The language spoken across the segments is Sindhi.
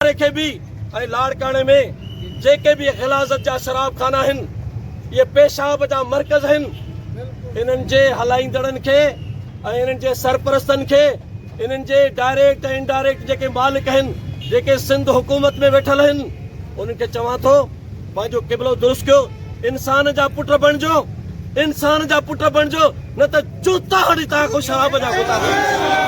واري کي به ۽ لاڙڪاڻي ۾ جيڪي به غلاظت جا شراب خانا آهن اهي پيشاب جا مرڪز آهن انهن جي هلائيندڙن کي ۽ انهن جي سرپرستن کي انهن جي ڊائريڪٽ ۽ انڊائريڪٽ جيڪي مالڪ آهن جيڪي سنڌ حڪومت ۾ ويٺل آهن انهن کي چوان ٿو پنهنجو قبلو درست ڪيو انسان جا پٽ بڻجو انسان جا پٽ بڻجو نه ته جوتا هڻي تان کان شراب جا گوتا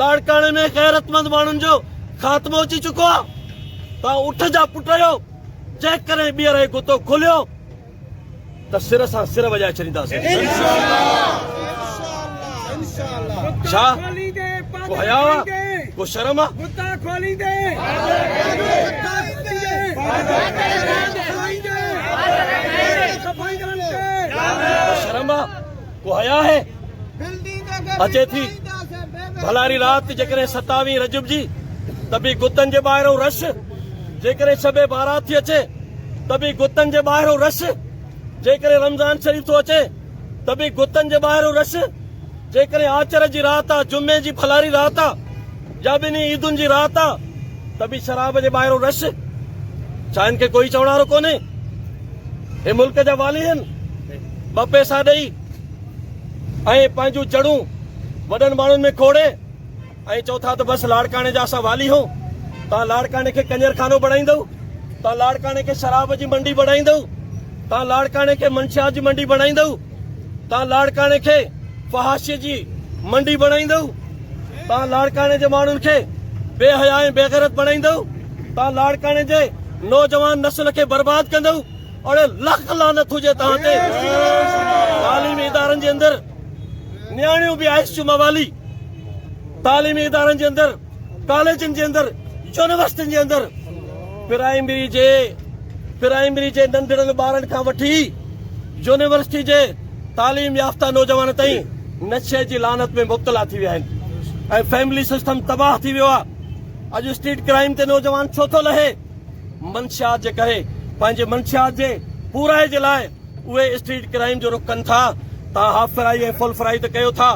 لاڙڪاڻي ۾ غيرتمند ماڻهن جو خاتمو اچي چڪو آ تان اٺ جا پٽ آهيو جيڪڏهن ٻيهر هي گتو کوليو ته سر سان سر وڄائي ڇڏينداسين ڇا ڪو حياء آ ڪو شرم آ گتا کوليندي شرم آ ڪو حياء آهي اچي ٿي ڀلاري رات جيڪڏهن ستاوين رجب جي ته به گتن جي ٻاهرو رش جيڪڏهن شب بارات ٿي اچي ته به گتن جي ٻاهرو رش جيڪڏهن رمضان شريف ٿو اچي ته به گتن جي ٻاهرو رش جيڪڏهن آچر جي رات آ جمعي جي ڀلاري رات آ جا ٻنهي عيدن جي رات آ ته به شراب جي ٻاهرون رش ڇا هن کي ڪوئي چوڻ وارو ڪونهي هي ملڪ جا والي هن ٻه پيسا ڏئي ۽ پنهنجون جڙون وڏن ماڻهن ۾ کوڙي ۽ چئو ٿا ته بس لاڙڪاڻي جا اسان والي هون تان لاڙڪاڻي کي ڪنجر خانو بڻائيندو تان لاڙڪاڻي کي شراب جي منڊي بڻائيندو تان لاڙڪاڻي کي منشيات جي منڊي بڻائيندو تان لاڙڪاڻي کي فحاشي جي منڊي بڻائيندو تان لاڙڪاڻي جي ماڻهن کي بي حيا ۽ بيغيرت بڻائيندئو تان لاڙڪاڻي جي نوجوان نسل کي برباد ڪندئو اڙي لک لعنت هجي تان تي تعليمي ادارن جي اندر نياڻيون به آئس جو موالي تعليمي ادارن جي اندر ڪاليجن جي اندر يونيورسٽين جي اندر پرائمري جي پرائمري جي ننڍڙن ٻارن کان وٺي يونيورسٽي جي تعليم يافته نوجوان تائين نشي جي لعنت ۾ مبتلا ٿي ويا آهن ۽ فيملي سسٽم تباهه ٿي ويو آهي اڄ اسٽريٽ ڪرائم تي نوجوان ڇو ٿو لهي منشيات جي ڪري پنهنجي منشيات جي پورائي جي لاء اهي اسٽريٽ ڪرائيم جو رخ ڪن ٿا توهان هاف فرائي ۽ فل فرائي ته ڪيو ٿا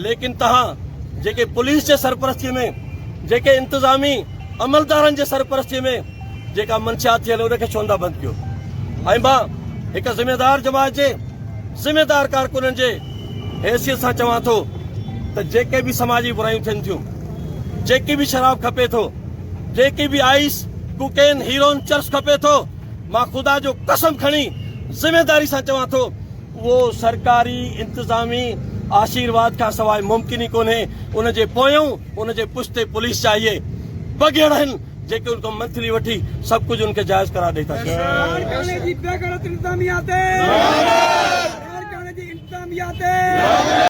ليڪن توهان جيڪي پوليس جي سرپرستي ۾ جيڪي انتظامي عملدارن جي سرپرستي ۾ جيڪا منشيات ٿيل ان کي ڇوندا بند ڪيو ۽ مان هڪ ذميوار جماعت جي ذميوار ڪارڪنن جي حيثيت سان چوان ٿو ته جيڪي به سماجي برايون ٿين ٿيون جيڪي به شراب کپي ٿو جيڪي به آئس ڪوڪين هيرون چرس کپي ٿو مان خدا جو قسم کڻي ذميواري سان چوان ٿو اهو سرڪاري انتظامي آشيرواد کان سواء ممڪن ئي ڪونهي ان جي پويون ان جي پشتي پوليس چاهيي بگهڙ آهن جيڪي ان کان منٿلي وٺي سڀ ڪجهه ان کي جائز قرار ڏئي ٿا لاڙڪاڻي جي بي غيرت انتظاميا تي